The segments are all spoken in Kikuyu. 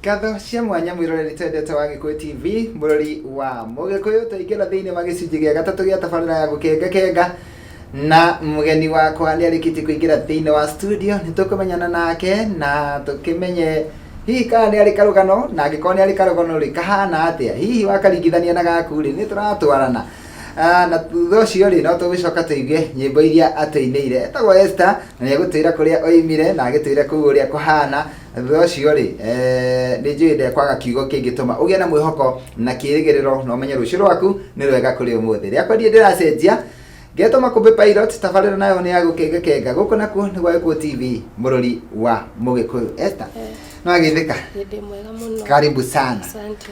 Ngatho cia mwanya mwĩroreri twendete wa Gĩkũyũ TV, mũrori wa Mũgĩkũyũ, tũingĩra thĩinĩ wa gĩcunjĩ gĩa gatatũ gĩa tabarĩra ya gũkengakenga na mũgeni wakwa nĩ arĩkĩtie kũingĩra thĩinĩ wa studio nĩ tũkũmenyana nake na tũkĩmenye hihi kana nĩ arĩ karũgano na angĩkorwo nĩ arĩ karũgano rĩ kahana atĩa hihi wakaringithania na gaku rĩ nĩ tũratwarana Ah, na thutha ũcio rĩ no tũgĩcoka tũigue nyĩmbo iria atũinĩire etagwo Esther na nĩ egũtwĩra kũrĩa oimire na agĩtwĩre kũu ũrĩa kũhana thutha ũcio rĩ eh, nĩ njũĩ ndekwaga kiugo kĩngĩtũma ũgĩe na mwĩhoko na kĩrĩgĩrĩro na ũmenye rũciũ rwaku nĩ rwega kũrĩ ũmũthĩ rĩakwa ndiĩ ndĩracenjia ngetwo makũmbĩ pilot tabarĩra nayo nĩ ya gũkengakenga gũkũ nakuo nĩ gwa gĩkũũ tv mũrũri wa mũgĩkũyũ Esther Eh. nĩwagĩthĩka Nĩ ndĩ mwega mũno. karibu sana Asante.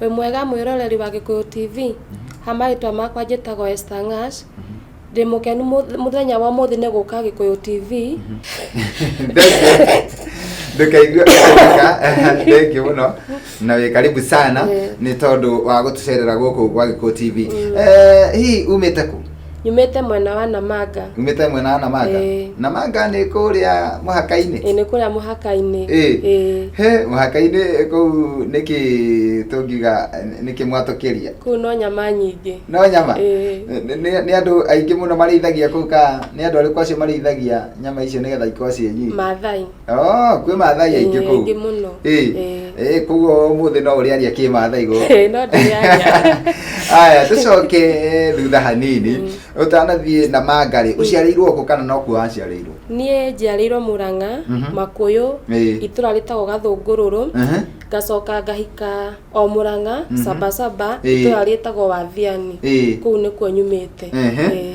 Wĩ mwega mwĩroreri wa Gĩkũyũ TV, ha marĩtwa makwa njĩtagwo Esther Ng'ash, ndĩ mũkenu mũth- mũthenya wa ũmũthĩ nĩ gũka Gĩkũyũ TV. ndũkaigue ũkĩrĩka thengi mũno na wĩ karibu sana Yeah. nĩ tondũ wa gũtũcerera gũkũ gwa gĩkũ tv Eh, hihi umĩte kũ nyumĩte mwena wa Namanga umĩte mwena wa namanga Ĩĩ. namanga nĩ kũrĩa mũhaka-inĩ ĩ nĩ kũrĩa mũhaka-inĩ Ĩĩ. Ĩĩ. he mũhaka-inĩ kũu nĩkĩ tũngiuga nĩkĩ mwatũkĩria kũu no nyama nyingĩ no nyama Ĩĩ. Nĩ- nĩ nĩ andũ aingĩ mũno marĩithagia kũu ka nĩ andũ arĩkũ acio marĩithagia nyama icio nĩgetha ikorwo ciĩ nyingĩ mathai Oh, kwĩ mathai aingĩ kũu aingĩ mũno Eh, Eh. eh, koguo ũmũthĩ no ũrĩaria kĩ mathai gũkũ Eh, no ndĩrĩaria aya tũcoke eh, thutha hanini ũtanathiĩ na mangarĩ ũciarĩirwo kũ kana no kuo waciarĩirwo niĩ njiarĩirwo mũrang'a Mhm. makũyũ Eh. itũra rĩtagwo gathũngũrũrũ Mhm. ngacoka ngahika o mũrang'a Mhm. sabasaba Eh. itũra rĩtagwo wathiani Eh. kũu nĩkuo nyumĩte Ehe. Eh.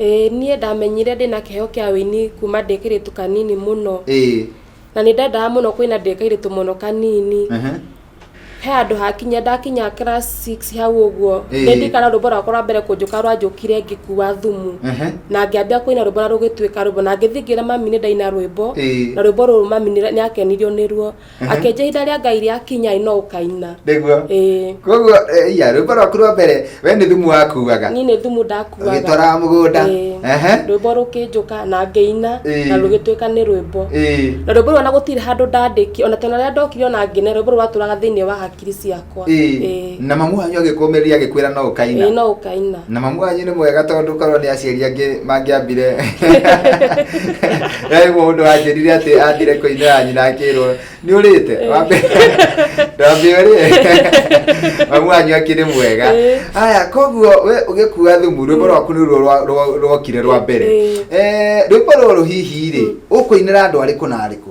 Ĩĩ niĩ ndamenyire ndĩ na kĩheo kĩa ũini kuma ndĩ kairĩtu kanini mũno ĩĩ na nĩ ndendaga mũno kũina ndĩ kairĩtu mũno kanini ehe he handũ hakinya ndakinya class 6 hau ũguo Ĩĩ. nĩ ndikana rwĩmbo rwakwa rwa mbere kũnjũka rwanjũkire ngĩkua thumu ehe na ngĩambia kũina rwĩmbo na rũgĩtuĩka rwĩmbo na ngĩthiĩ ngĩra mami nĩ ndaina rwĩmbo Ĩĩ. na rwĩmbo rũrũ mami nĩ nĩ akenirio nĩruo akenja itha rĩa ngai rĩa kinya no ũkaina nĩguo ĩĩ koguo eh, iya rwĩmbo rwaku rwa mbere we nĩ thumu wakuaga niĩ nĩ thumu ndakuaga ũgĩtwaraga mũgũnda Ĩĩ. Ehe. rwĩmbo rũkĩnjũka na ngĩina Ĩĩ. na rũgĩtuĩka nĩ rwĩmbo Ĩĩ. na rwĩmbo rũu ona gũtirĩ handũ ndandĩki ona tena rĩrĩa ndokire ona ngĩne rwĩmbo rũu rwatũraga thĩinĩ wa hakiri kiri ciakwa Ĩĩ. Ĩĩ. na mamu wanyu agĩkũmĩrĩria agĩkwĩra no Ĩĩ, ũkaina no ũkaina na mamu wanyu nĩ mwega tondũ korwo nĩ aciari angĩ mangĩambire he mũndũ wanjĩrire atĩ ambire kũinĩra nyina akĩrwo nĩ ũrĩte Ĩĩ. Wambe- ndwambe ũrĩe mamu wanyu akĩrĩ mwega Ĩĩ. aya koguo we ũgĩkua thumu rwĩmbo rwaku nĩ ruo rwa- rwa- rwokire rwa mbere Ĩĩ. Eh, rwĩmbo rũrũ hihi rĩ ũkũinĩra andũ arĩkũ na arĩkũ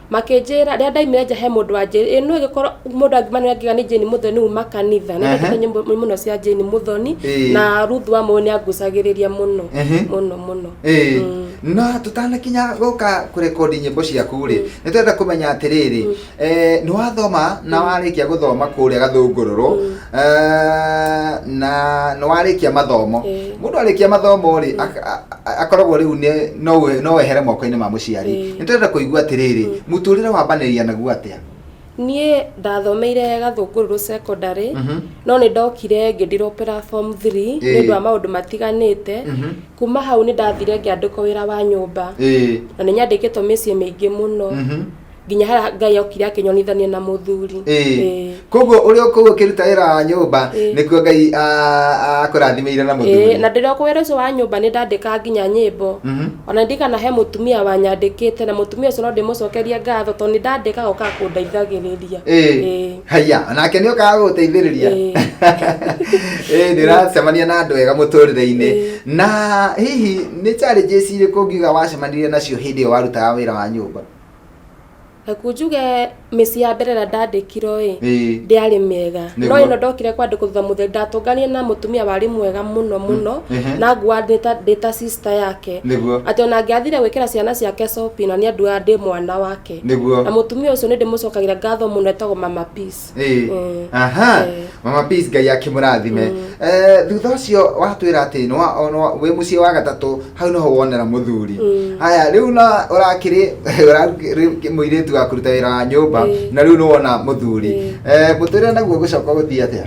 makĩnjĩra rĩrĩa ndaimire nja he mũndũ wanjĩra ĩ nũ gĩkorwo mũndũ angiuma nĩ angiuga nĩ Jane Muthoni uma kanitha nĩ Ehe. ndekire nyĩmbo mũno cia Jane Muthoni Ĩĩ. na Ruth wa Mũyũ nĩ angucagĩrĩria mũno Ehe. mũno mũno Ĩĩ. Mm. no tũtanakinya gũka kũrekondi nyĩmbo ciaku rĩ nĩ twenda kũmenya atĩrĩrĩ eh, nĩ wathoma na warĩkia gũthoma kũrĩa gathũngũrũrũ eh, na nĩ warĩkia mathomo Ĩĩ. mũndũ arĩkia mathomo rĩ aka- a- A- akoragwo rĩu nĩ- no we- no wehere moko-inĩ ma mũciari Ĩĩ. nĩ tũrenda kũigua atĩrĩrĩ mũtũrĩre wambanĩria naguo atĩa niĩ ndathomeire gathũngũrũrũ secondary Mhm. no nĩ ndokire ngĩndiropera form 3 Ĩĩ. nĩ ũndũ wa maũndũ matiganĩte Mhm. kuma hau nĩ ndathire ngĩandĩkwo wĩra wa nyũmba Ĩĩ. na nĩ nyandĩkĩtwo mĩciĩ mĩingĩ mũno Mhm. nginya harĩa ngai okire akĩnyonithania na mũthuri Ĩĩ. Ĩĩ. koguo ũrĩ o kũu ũkĩruta wĩra wa nyũmba Ĩĩ. nĩkuo ngai a- akũrathimeire na Ĩĩ, mũthuri na ndĩrĩ o kũwĩra ũcio wa nyũmba nĩ ndandĩka nginya nyĩmbo Mhm. ona ndirikana he mũtumia wanyandĩkĩte na mũtumia ũcio no ndĩmũcokerie ngatho tondũ nĩ ndandĩkaga ũkaga kũndeithagĩrĩria Ĩĩ. Ĩĩ. haya nake nĩ ũkaga gũgũteithĩrĩria Ĩĩ. Ĩĩ, nĩ ũracemania na andũ ega mũtũrĩre-inĩ Ĩĩ. na hihi nĩ challenges irĩkũ ngiuga wacemanirie nacio hĩndĩ ĩyo warutaga wĩra wa nyũmba Aku njuge mĩciĩ ya mbere ĩrĩa ndandĩkirwo ĩ Ĩĩ. ndĩarĩ mĩega Nĩguo. no ĩno ndokire kwandĩkwo thutha mũtheri ndatũnganire na mũtumia warĩ mwega mũno mũno ehe. na nguaga ndĩ ta- ndĩ ta sister yake Nĩguo. atĩ ona angĩathire gwĩkĩra ciana ciake shopping na niĩ anduaga ndĩ mwana wake Nĩguo. na mũtumia ũcio nĩ ndĩmũcokagĩra ngatho mũno etagwo mama peace Eh, Mm. aha Eh. mama peace ngai akimurathime Mm. Eh, thutha ucio watwira ati nwa nwa- wi mucii wa gatatu hau niho wonera muthuri Mm. haya riu na urakiri muiritu wa kuruta wira wa nyumba Eh. na riu niwona muthuri Eh. Eh, muturire naguo gucoka guthii atia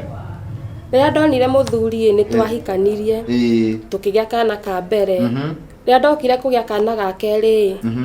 rĩrĩa ndonire mũthuri nĩ twahikanirie Eh, tũkĩgĩa kana ka mbere mhm, rĩrĩa ndokire kũgĩa kana ga kerĩ mhm.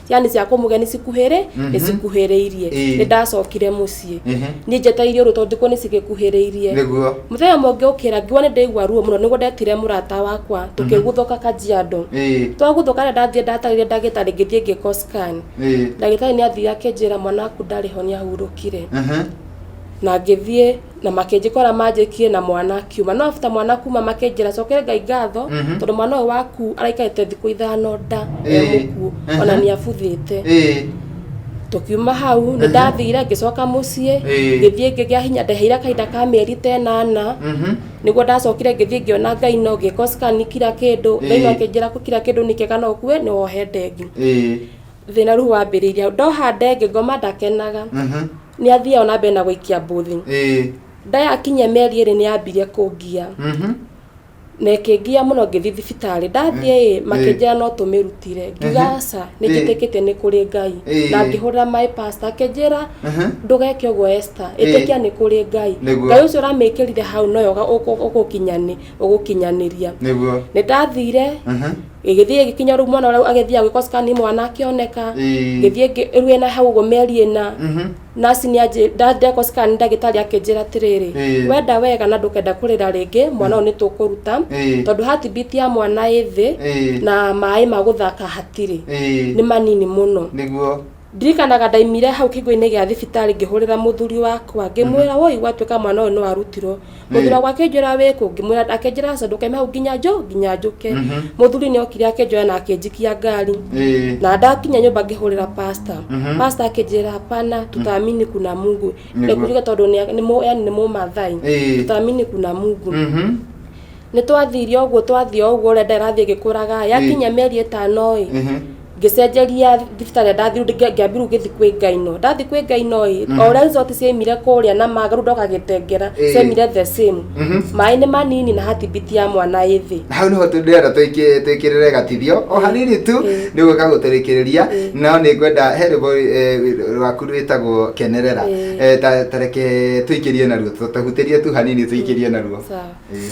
ciana cia kũmũgĩa nĩ cikuhĩrĩ nĩ cikuhĩrĩirie Ĩĩ. nĩ ndacokire mũciĩ Ehe. niĩ njetaire ũrũ tondũ nĩ cigĩkuhĩrĩirie nĩguo mũthenya ũmwe ngĩũkĩra ngiuga nĩ ndaigua ruo mũno nĩguo ndetire mũrata wakwa tũkĩguthũka kajiado Ĩĩ. twaguthũka rĩ ndathiĩ ndatarire ndagĩtarĩ ngĩthiĩ ngĩkwo scan Ĩĩ. ndagĩtarĩ nĩ athiire akĩnjĩra mwana waku ndarĩ ho nĩ ahurũkire Ehe. na ngĩthiĩ na makĩnjĩkora manjĩkie na mwana akiuma no after mwana kuma makĩnjĩra cokere ngai ngatho Mhm. tondũ mwana ũyũ waku araikarĩte thikũ ithano nda e Ĩĩ. mũkuũ Aha. ona nĩ abuthĩte Ĩĩ. tũkiuma hau nĩ Aha. ndathire ngĩcoka mũciĩ Ĩĩ. ngĩthiĩ ngĩgĩa hinya ndeheire kahinda ka mĩeri ta ĩnana Mhm. nĩguo ndacokire ngĩthiĩ ngĩona ngai no ngĩkoscan kira kĩndũ Ĩĩ. ngai no akĩnjĩra kira kĩndũ nĩ kĩega no ũkue nĩ wohe ndengĩ Ĩĩ. thina riu wambiriria ndoha ndenge ngoma ndakenaga Mhm. ni athiaga na mbere na guikia mbuthi Eh. ndayakinya meri iri ni ambire kungia Mhm. na ĩkĩngia mũno ngĩthiĩ thibitarĩ ndathiĩ ĩ Eh. makĩnjĩra no tũmĩrutire ngiuga Mhm. aca nĩ Eh. njĩtĩkĩte nĩ kũrĩ ngai Eh. na ngĩhũrĩra maĩ pasta akĩnjĩra Mhm. ndũgeke ũguo esta Eh. ĩtĩkia nĩ kũrĩ ngai Nĩguo. ngai ũcio ũramĩkĩrire hau noyo ũgũkinyanĩria Nĩguo. nĩ ndathire Mhm. gĩgĩthiĩ gĩgĩkinya rĩu mwana ũrĩa agĩthiĩ agwĩkwo scan mwana akĩoneka Ĩĩ. ngĩthiĩ ngĩ- rĩu ena hau ũguo mĩeri ĩna Mhm. nasi nĩ anjĩ- nda- ndekwo scan ndagĩtarĩ akĩnjĩra atĩrĩrĩ Ĩĩ. wenda wega na ndũkenda kũrĩra rĩngĩ mwana ũyũ nĩ tũkũruta Ĩĩ. tondũ hatibiti ya mwana ĩ thĩ Ĩĩ. na maĩ ma gũthaka hatirĩ Ĩĩ. nĩ manini mũno nĩguo Ndirikanaga ndaimire hau kĩhingo-inĩ gĩa thibitarĩ ngĩhũrĩra mũthuri wakwa ngĩmwĩra woi gwatuĩka mwana ũyũ nĩ warutirwo mũthuri wakwa akĩnjĩra wĩkũ ngĩmwĩra akĩnjĩra aca ndũkaime hau nginya njũ nginya njũke mũthuri nĩ okire akĩnjoya na akĩnjikia ngari Eh. na ndakinya nyũmba ngĩhũrĩra pasta pasta akĩnjĩra hapana tutaamini kuna mungu nĩ Nĩguo. kuga tondũ nĩ- nĩ mũ- yani nĩ mũmathai Eh. tutaamini kuna mungu Mhm. nĩ twathiire ũguo twathiĩ o ũguo ũrĩa ndarathiĩ gĩkũraga yakinya mĩeri ĩtano ĩ Mhm. ngĩcenjeria thibitarĩ ndathiru ngĩambirwo gĩthi kwĩ ngai no ndathi kwĩ ngai no ĩ o ũrĩa resort ciaimire kũrĩa na maga rĩu ndoka gĩtengera Ĩĩ. ciaimire the same Mhm. maĩ nĩ manini na hatibiti ya mwana ĩ thĩ na hau niho ndĩrenda tũiki- twĩkĩrĩre gatithio o hanini tu Ĩĩ. nĩ gwĩka gũtũrĩkĩrĩria Ĩĩ. no nĩ ngwenda he rwĩmbo eh, rwaku rwĩtagwo kenerera Ĩĩ. Eh, ta- ta reke tũikĩrie naruo tũhutĩrie tu hanini tũikĩrie naruo Sawa. Ĩĩ.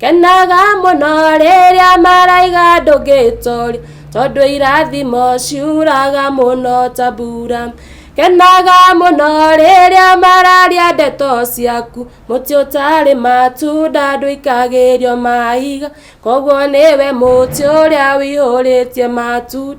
kenaga mũno rĩrĩa maraiga ndũngĩtoria tondũ irathimo ciuraga mũno ta mbura kenaga mũno rĩrĩa mararia ndeto ciaku mũtĩ ũtarĩ matunda ndũikagĩrio mahiga koguo nĩwe mũtĩ ũrĩa wĩihũrĩtie matunda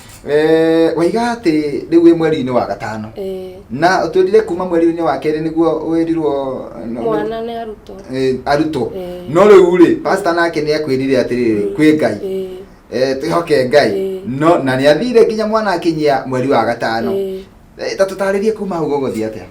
Eh, waiga atĩ rĩu wĩ mweri-inĩ wa gatano Eh, na twĩrire kuma mweri-inĩ wa kerĩ nĩguo wĩrirwo mwana nĩ arutwo Eh, arutwo Eh. no rĩu rĩ pasta nake nĩ akwĩrire atĩrĩrĩ kwĩ ngai Eh, Eh, twĩhoke ngai Eh. no na nĩ athire nginya mwana akinyia mweri wa gatano Eh. Eh, ta tũtarĩrie kuma hau gũgũthiĩ atĩa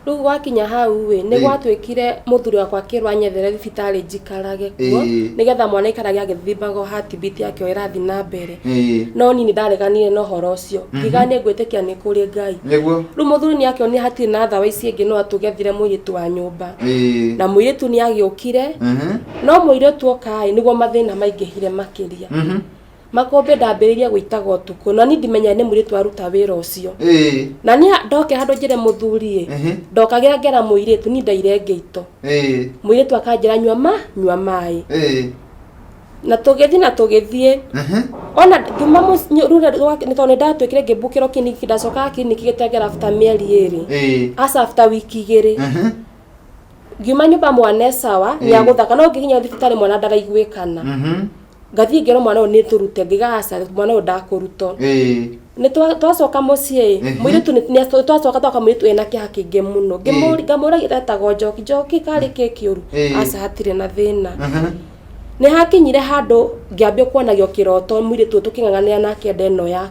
rĩu gwakinya hau ĩ nĩ Ĩ. gwatuĩkire mũthuri wakwa akĩrwo anyethere thibitarĩ njikarage kuo Ĩ. nĩgetha mwana aikarage agĩthimbaga hatibiti yake o ĩrathiĩ na mbere Ĩ, no niĩ nĩ ndareganire na ũhoro ũcio ngiga nĩ ngwĩtĩkia nĩ kũrĩ ngai nĩguo rĩu mũthuri nĩ akĩonire hatirĩ na thawa ici ingĩ no atũgethire mũirĩtu wa nyũmba Ĩ, na mũirĩtu nĩ agĩũkire mhm, no mũirĩtu okaĩ nĩguo mathĩna maingĩhire makĩria mhm. makũmbĩ ndambĩrĩirie gũitaga ũtukũ na niĩ ndimenyaga nĩ mũirĩtu waruta wĩra ũcio ĩĩ na niĩ ndoke handũ njĩre mũthuri ĩ Mhm. ndokagĩra ngera mũirĩtu niĩ ndaire ngĩito ĩĩ mũirĩtu akanjĩra nyua ma nyua maĩ ĩĩ na tũgĩthiĩ na tũgĩthiĩ Mhm. ona ngiuma rura nĩ tondũ nĩ ndatuĩkire ngĩmbukĩrwo kiriniki ndacokaga kiriniki gĩtengera after mĩeri ĩrĩ ĩĩ aca after wiki igĩrĩ Mhm. ngiuma nyũmba mwana esawa nĩ Ĩĩ. agũthaka no ngĩkinya thibitarĩ mwana ndaraiguĩkana Mhm. ngathiĩ ngero mwana ũyũ nĩtũrute ngiga aca mwana ũyũ ndakũrutwo twacoka mũciĩ mũirĩtu twacoka twaka mũirĩtu ena kĩeha kĩingĩ mũno ngamũragia etagwo njoki njoki karĩ kĩ kĩũru aca hatirĩ na thĩna nĩhakinyire handũ ngĩambia kuonagio kĩroto mũirĩtu ũyũ tũkĩng'ang'anĩra nake nda ĩno yakwa.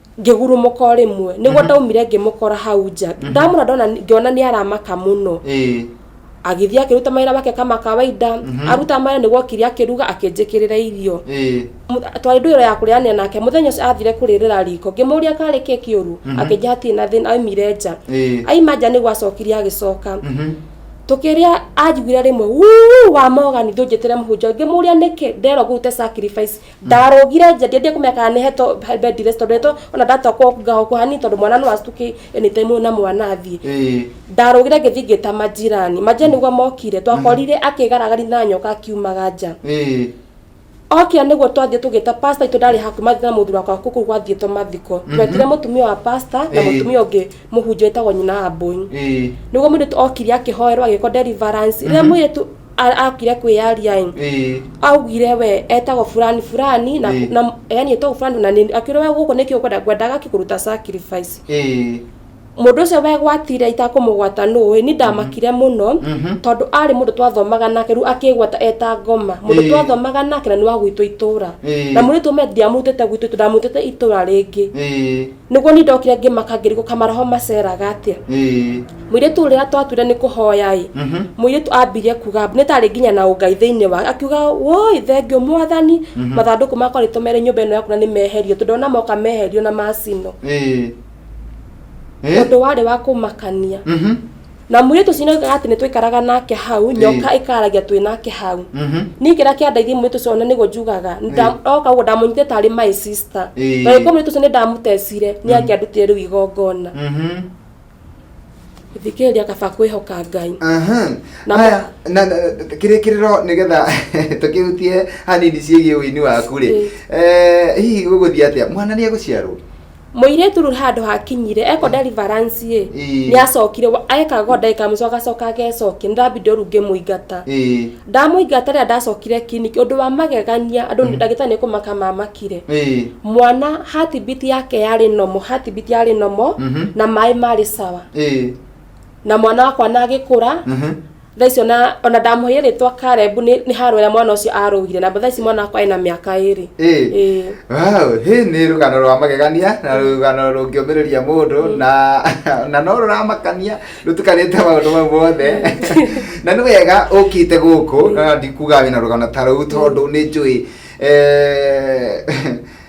ngĩgurũmũka o rĩmwe nĩguo ndaumire ngĩmũkora hau nja ndamũra ndona ngĩona nĩ aramaka mũno ĩĩ agĩthiĩ akĩruta mawĩra wake kama kawaida aruta mawĩra nĩguo okire akĩruga akĩnjĩkĩrĩra irio ĩĩ Mu- twarĩ ndũĩro ya kũrĩanĩra nake mũthenya ũcio athire kũrĩrĩra riko ngĩmũria karĩ kĩ kĩũru akĩnjĩra hatirĩ na thĩna aumire nja ĩĩ aima nja nĩguo acokire agĩcoka Mhm. tũkĩrĩa anjiguire rĩmwe "Wuu, wa mogani ndũnjĩtĩre mũhunjia ngĩmũria nĩkĩ nderwo ngũrute sacrifice ndarũgire nja ndiendie kũmenya kana nĩ heto bed rest tondũ heto ona ndatokwo ngaho kuhani tondũ mwana no astuke anytime na mwana athiĩ Eh. ndarũgire ngĩthiĩ ngĩta majirani majirani nĩguo mokire twakorire akĩgaragari na nyoka akiumaga nja Eh. okĩa nĩguo twathiĩ tũgĩta pasta itũ ndarĩ hakuĩ mathiĩ na mũthuri wakwa kũkũ gwathiĩtwo mathiko twetire mũtumia wa pasta na Eh. mũtumia ũngĩ mũhunjia wĩtagwo nyina wa mbũi Eh. nĩguo mũirĩtu okire akĩhoerwo agĩkwo deliverance rĩrĩa mũirĩtu A- akire kwĩyaria ĩ ĩĩ augire we etagwo fulani fulani na, Ĩĩ. na yani etagwo fulani na nĩ- akĩũria we gũkũ nĩkĩ ũkwenda ngwendaga kĩkũruta sacrifice ĩĩ mũndũ ũcio wegwatire itakũmũgwata nũĩ ni ndamakire mũno Mhm. tondũ arĩ mũndũ twathomaga nake rĩu akĩgwata eta ngoma mũndũ Ĩĩ. twathomaga nake na nĩ wa gwitũ itũra Ĩĩ. na mũirĩtu ũme ndiamũrutĩte gwitũ itũra ndamũrutĩte itũra rĩngĩ ĩĩ niguo ni ndokire ngimaka ngirigo kamaraho maceraga atia ĩĩ mwiritu uria twatwire ni kuhoya i Mhm. mwiritu ambirie kuga ni tari nginya na ungai thiini wa akiuga woi thengio mwathani mathanduku makwa ritumere nyumba ino yaku na ni meherio tondu ona moka meherio na macino ĩĩ ĩĩ undu wari wa kumakania Mhm. na mwirĩtu ũcio nĩoigaga atĩ nĩtwaikaraga nake hau nyoka ĩkaragia twĩ nake hau Mhm. niä kä rä a kä andaithia mwä tå ona nä guo njugaga oka guo ndamũnyite tarä my sister Ĩĩ. na gä korwo mwä tå å cio nä ndamũtecire nä angä andå tä rä u igongona Mhm. gå thikä rä ria kaba kwä hoka ngai Aha. Na mo- Haya, na na- kĩrĩkĩrĩro nĩgetha tũkĩhutie hanini ciĩgiĩ ũini waku rĩ Ĩĩ. Eh, hihi gũgũthiĩ atĩa mwana nĩ egũciarwo Mũirĩtu rĩu handũ hakinyire eko deliverance ĩ Ĩĩ. nĩ acokire wa- ekaga ũguo ndagĩka ya mũico agacoka agecokia nĩ ndambindi ũru ngĩmũingata Ĩĩ. ndamũingata rĩrĩa ndacokire kiriniki ũndũ wa magegania andũ nĩ ndagĩtarĩ nĩ kũmaka mamakire Ĩĩ. mwana hatibiti yake yarĩ nomo hatibiti yarĩ nomo Mhm. na maĩ marĩ sawa Ĩĩ. na mwana wakwa na agĩkũra Mhm. thaa icio na ona ndamũheire rĩtwa karebu nĩ nĩ harwera mwana ũcio arũgire na thaa ici mwana wakwa ena mĩaka ĩrĩ Ĩĩ. Ĩĩ. Wow, hĩ nĩ rũgano rwa magegania na rũgano rũngĩũmĩrĩria mũndũ na na no rũramakania rũtukanĩte maũndũ mau mothe na nĩ wega ũkĩte gũkũ na ndikuga wĩna rũgano ta rũu tondũ nĩ njũĩ eh,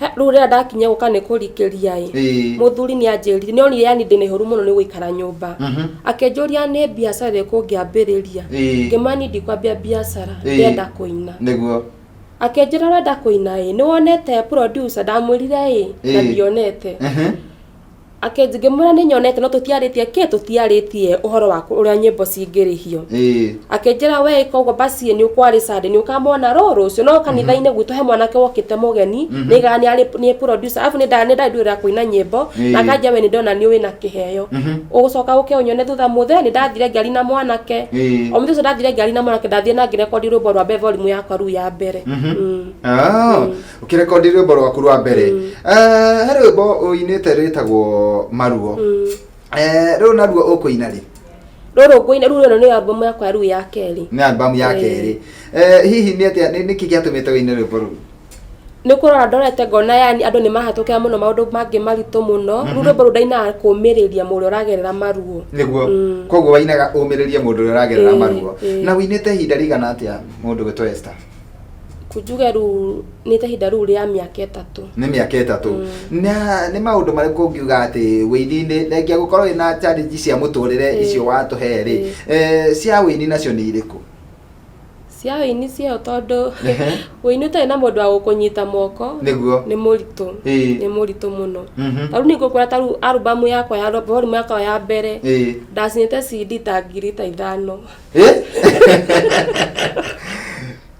He- rĩu rĩrĩa ndakinya gũka nĩ kũrikĩria ĩ Ĩĩ. mũthuri nĩ anjĩrire nĩ onire yani ndĩ na ihũru mũno nĩ gũikara nyũmba Mhm. akĩnjũria nĩ biacara ĩrĩkũ ngĩambĩrĩria Ĩĩ. ngĩmwĩra niĩ ndikwambia biacara Ĩĩ. ndĩrenda kũina nĩguo akĩnjĩra ũrenda kũina ĩ nĩ wonete producer ndamwĩrire ĩ na Ĩĩ. ndionete Mhm. Ake ngĩmwĩra nĩ nyonete no tũtiarĩtie kĩ tũtiarĩtie ũhoro wa kũ- ũrĩa nyĩmbo cingĩrĩhio ĩĩ akĩnjĩra we ĩka ũguo basi nĩ ũkwarĩ sande nĩ ũkamwona rũ rũciũ no kanitha-inĩ gwitũ he mwanake wokĩte mũgeni nĩ ĩgaga nĩ arĩ nĩ producer arabu nĩ nda- nĩ ndarĩ ndũrĩra kũina nyĩmbo Ĩĩ. na akanjia we nĩ ndona nĩ ũĩ na kĩheo ũgũcoka ũke ũnyone thutha mũthee nĩ ndathire ngĩari na mwanake Ĩĩ. o mũthenya ũcio ndathire ngĩari na mwanake ndathire na ngĩrekondi rwĩmbo rwa Beverly Mũ yakwa ruu ya mbere Mm. Ah. ukirekondi rwimbo rwaku rwa mbere Eh, he rwimbo uinite rwitagwo maruo Eh, rĩu naruo ũkũina rĩ rũrũ ngũina rĩu ĩno nĩ albamu yakwa ya rĩu ya kerĩ nĩ albamu ya Eh. kerĩ Eh, hihi nĩ atĩa nĩ- nĩkĩ gĩatũmĩte wĩine rwĩmbo rũu nä kå rora ndorete ngona yani andå nä mahatå kä ra må no maå ndå mangä maritå må no rä u rwä mbo rå ndainaga kå mä rä ria må rä a å ragerera maruo nĩguo Mm. koguo wainaga ũmĩrĩrie mũndũ ũrĩa ũragerera Eh, maruo eh. na wĩinĩte ihinda rĩigana atĩa mũndũ gwĩtwo Esther kunjuge rĩu nĩ ta ihinda rĩu rĩa mĩaka ĩtatũ nä mä aka ä tatå nä maå ndå marä kå ngiuga atä wä ini-inä thengia gå korwo wä na challenge cia må tå rä re Ĩĩ. icio watå he rä Ĩĩ. cia wä ini nacio nä irä kå cia ũini ciayo tondå Ehe. ũini ũtarĩ na mũndũ wa gũkũnyita moko Nĩguo. nĩ mũritũ Ĩĩ. nĩ mũritũ mũno Mhm. tarĩu ningå kwä ta rĩu arubamu yakwa ya volume yakwa ya mbere Ĩĩ. ndacinä te cd ta ngiri ta ithano Eh?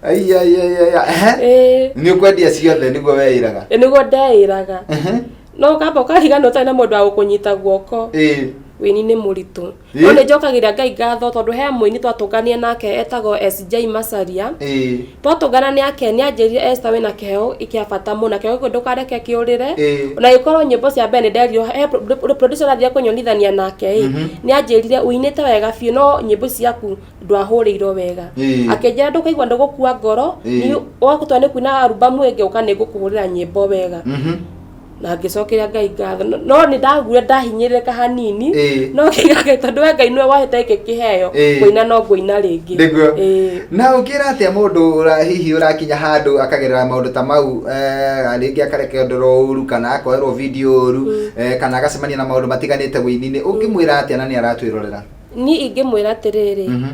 Ai, ai, ai, ai, ai. Ehe. ĩĩ nĩ ũkwendia ciothe nĩguo weĩraga ĩ nĩguo ndeĩraga Ehe. no ũkamba ũkarigana ũtarĩ na mũndũ wa gũkũnyita guoko Ĩĩ. wĩini nĩ mũritũ Ĩ. no nĩ njokagĩria ngai ngatho tondũ he mũini twatũngania nake etagwo SJ Macharia Ĩĩ. Twatũngana nake nĩanjĩrire Esther wĩna kĩheo kĩa bata mũno na kĩheo kĩu ndũkareke kĩũrĩre Ĩĩ. na gĩkorwo nyĩmbo cia mbere nĩnderirwo he pro- producer ũrathiaga kũnyonithania nake ĩ nĩanjĩrire ũinĩte wega biũ no nyĩmbo ici ciaku ndwahũrĩirwo wega Ĩĩ. akĩnjĩra ndũkaigua ndũgũkua ngoro Ĩĩ. ni- wahota nĩ kuina arubamu ĩngĩ ũka nĩngũkũhũrĩra nyĩmbo wega na ngĩcokera ngai ngatho No- no nĩ ndaguire ndahinyĩrĩrĩka hanini Ĩĩ. no kĩgage tondũ we ngai nĩwe wahete gĩkĩ kĩheo Ĩĩ. kũina no ngũina rĩngĩ Nĩguo. Ĩĩ. na ũngĩra atĩa mũndũ ũra- hihi ũrakinya handũ akagerera maũndũ ta mau eh, rĩngĩ akarekerwo ũru kana akoerwo video ũru eh, kana agacemania na maũndũ matiganĩte ũininĩ ũngĩmwĩra atĩa na nĩ aratwĩrorera niĩ ingĩmwĩra atĩrĩrĩ Mhm.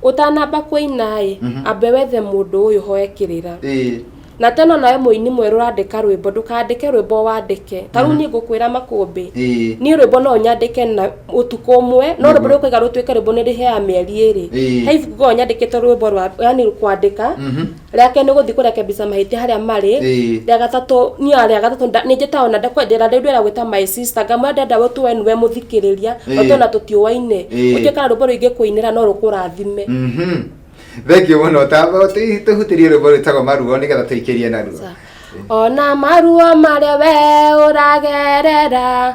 Ũtanamba kũina-ĩ, Mhm. ambe wethe mũndũ ũyũ hoe kĩrĩra. Ĩĩ. Na tena nawe mũini mwerũ ũrandĩka rwĩmbo, ndũkandĩke rwĩmbo o wandĩke. Ta rĩu Mhm. niĩ ngũkwĩra makũmbĩ, Ĩĩ. niĩ rwĩmbo no nyandĩke na ũtukũ ũmwe, no rwĩmbo Nĩguo. rũrĩa ũkũiga rũtuĩke rwĩmbo nĩ ndĩheaga mĩeri ĩrĩ. Ĩĩ. He ibuku ngoragwo nyandĩkĩte rwĩmbo rwa yani kwandĩka, Mhm. rĩa kerĩ nĩ gũthiĩ kũrekebisha mahĩtia harĩa marĩ Ĩĩ. rĩa gatatũ niĩ rĩa gatatũ nda- nĩ njĩtaga ona ndakwendera rĩu ndĩra gwĩta my sister ngamwĩra ndenda gũtũwe nĩwe mũthikĩrĩria Ĩĩ. tondũ ona tũtiũwaine Ĩĩ. ũtuĩka rũmbo rũingĩ kũinĩra no rũkũrathime Mhm. thengiũ mũno tamba tũhutĩrie rwĩmbo rwĩtagwo maruo nĩgetha tũikĩrie naruo Sa- ona maruo marĩa we ũragerera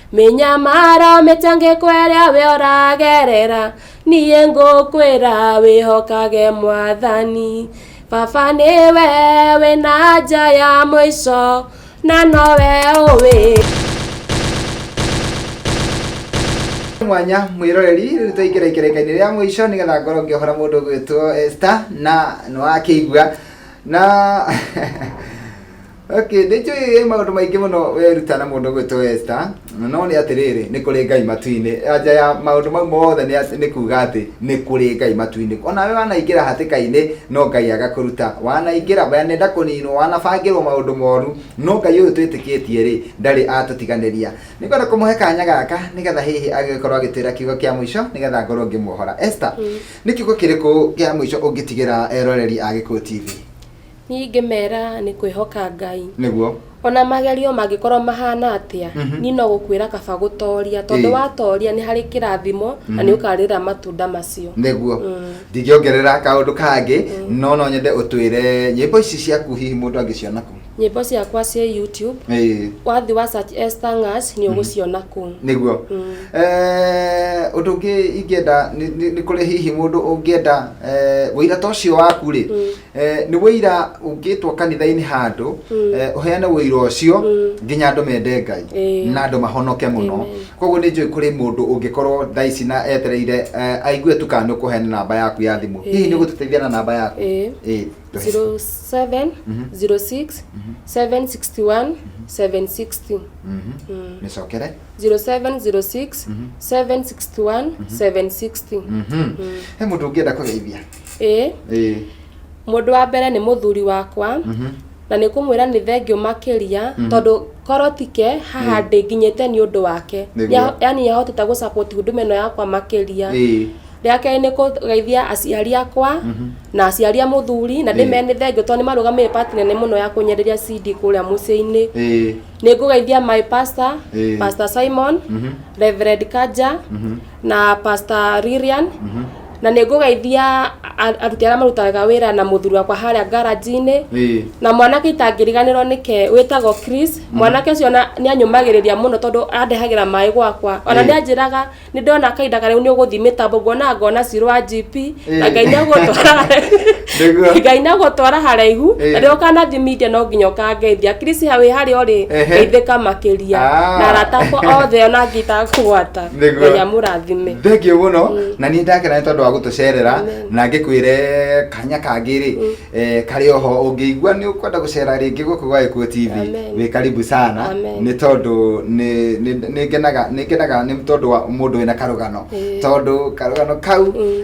mĩnyamaro mĩtangĩko ĩrĩa we ũragerera niĩ ngũkwĩra wĩhokage mwathani baba nĩwe wĩna nja ya mũico na nowe ũwĩ mwanya mwiroreri riu tuingire ikerekaini ria mwico nigetha ngoro ngiohora mundu gwitwo Esther na niwakigua na Okay, nĩ njũĩ maũndũ maingĩ mũno weruta na mũndũ ũgwĩtwo Esther, no nĩ atĩrĩrĩ, nĩ kũrĩ Ngai matu-inĩ. Anja ya maũndũ mau mothe nĩ atĩ- nĩ kuuga atĩ nĩ kũrĩ Ngai matu-inĩ. Ona we wanaingĩra hatĩka-inĩ, no Ngai agakũruta. Wanaingĩra, wanenda kũninwo, wanabangĩrwo maũndũ moru, no Ngai ũyũ twĩtĩkĩtie-rĩ, ndarĩ atũtiganĩria. Nĩ ngwenda kũmũhe kanya gaka nĩ getha hihi agĩkorwo agĩtwĩra kiugo kĩa mũico nĩ getha ngorwo ngĩmuohora. Esther, nĩ kiugo kĩrĩkũ kĩa mũico ũngĩtigĩra eroreri a Gĩkũyũ TV? Niĩ ingĩmera nĩ kwĩhoka Ngai. Nĩguo. Ona magerio mangĩkorwo mahana atĩa, Mhm. niĩ no gũkwĩra kaba gũtoria, tondũ Ĩĩ. watoria nĩ harĩ kĩrathimo na nĩ ũkarĩra matunda macio. nĩguo Mm. ndingĩongerera kaũndũ kangĩ no no nyende ũtwĩre nyĩmbo ici ciaku hihi mũndũ angĩciona kũ Nyĩmbo ciakwa ciĩ YouTube, Ĩĩ, wathi wa search Esther Ng'as nĩ ũgũciona kũu. nĩguo Mm. Eh, ũndũ ũngĩ ingĩenda nĩ- nĩ nĩ kũrĩ hihi mũndũ ũngĩenda eh, ũira ta ũcio waku rĩ Eh, nĩ wĩira ũngĩtwo kanitha-inĩ handũ eh, ũheane wĩira ũcio nginya andũ mende ngai Ĩĩ. na andũ mahonoke mũno Amen. koguo nĩ njũĩ kũrĩ mũndũ ũngĩkorwo thaa ici na etereire eh, aigue tu kana nĩ ũkũheana namba yaku ya thimũ hihi nĩ gũtũteithia na namba yaku Ĩĩ. Ĩĩ, tũhe. 07 06 761 760 Mhm. mĩcokere 0706 761 760 Mhm. he mũndũ ũngĩenda kũgeithia Ĩĩ. Ĩĩ. Mũndũ wa mbere nĩ mũthuri wakwa na nĩ kũmwĩra nĩ thengiũ makĩria tondũ korwo ti ke haha ndĩnginyĩte nĩ ũndũ wake. Nĩguo. Nĩa- Yaani nĩ ahotete gũ support huduma ĩno yakwa makĩria. Ĩĩ. Rĩa kerĩ nĩ kũgeithia aciari akwa na aciari a mũthuri na ndĩmere nĩ thengiũ tondũ nĩ marũgamĩrĩire part nene mũno ya kũnyenderia CD kũrĩa mũciĩ-inĩ. Ĩĩ. Nĩ ngũgeithia my pastor, Ĩĩ. Pastor Simon, Reverend Kanja na Pastor Lilian na nĩ ngũgeithia a- aruti arĩa marutaga wĩra na mũthuri wakwa harĩa ngaranji-inĩ Ĩĩ. na mwanake itangĩriganĩrwo nĩke wĩtagwo Chris mwanake ũcio na nĩ anyũmagĩrĩria mũno tondũ andehagĩra maĩ gwakwa ona Ĩĩ. nĩ anjĩraga nĩ ndona kahinda karĩa nĩ ũgũthiĩ mĩtambo ngona ngona cirũ wa GP na Ĩĩ. ngai nĩ agũtwara Nĩguo. ngai nĩ agũtwara haraihu Ĩĩ. na rĩrĩa ũkanathiĩ media no nginya ũkangeithia Chris ha wĩ harĩa ũrĩ Ehe. ngeithĩka makĩria Ah. na arata akwa othe ona angĩta kũgwata Nĩguo. Ngai amũrathime. thengio mũno Mm. na niĩ ndakena nĩ tondũ wa gũtũcerera Amen. na ngĩkwĩre kanya kangĩ rĩ eh, karĩ oho ũngĩigua nĩ ũkwenda gũcera rĩngĩ gũkũ gwa Gĩkuũ TV Amen. wĩ karibu sana Amen. nĩ tondũ nĩ- nĩ- nĩ ngenaga nĩ ngenaga nĩ tondũ wa mũndũ wĩna karũgano Eh. tondũ karũgano kau Mm.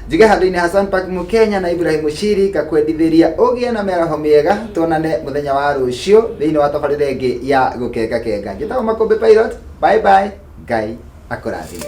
Njiga handũ-inĩ Hassan Park Mũkenya na Ibrahim Mushiri ngakwendithĩria ũgĩe na mĩaraho mĩega tuonane mũthenya wa rũciũ thĩinĩ wa tabarĩra ĩngĩ ya gũkenga kenga njĩtagwo Makũmbĩ Pilot bye bye Ngai akũrathime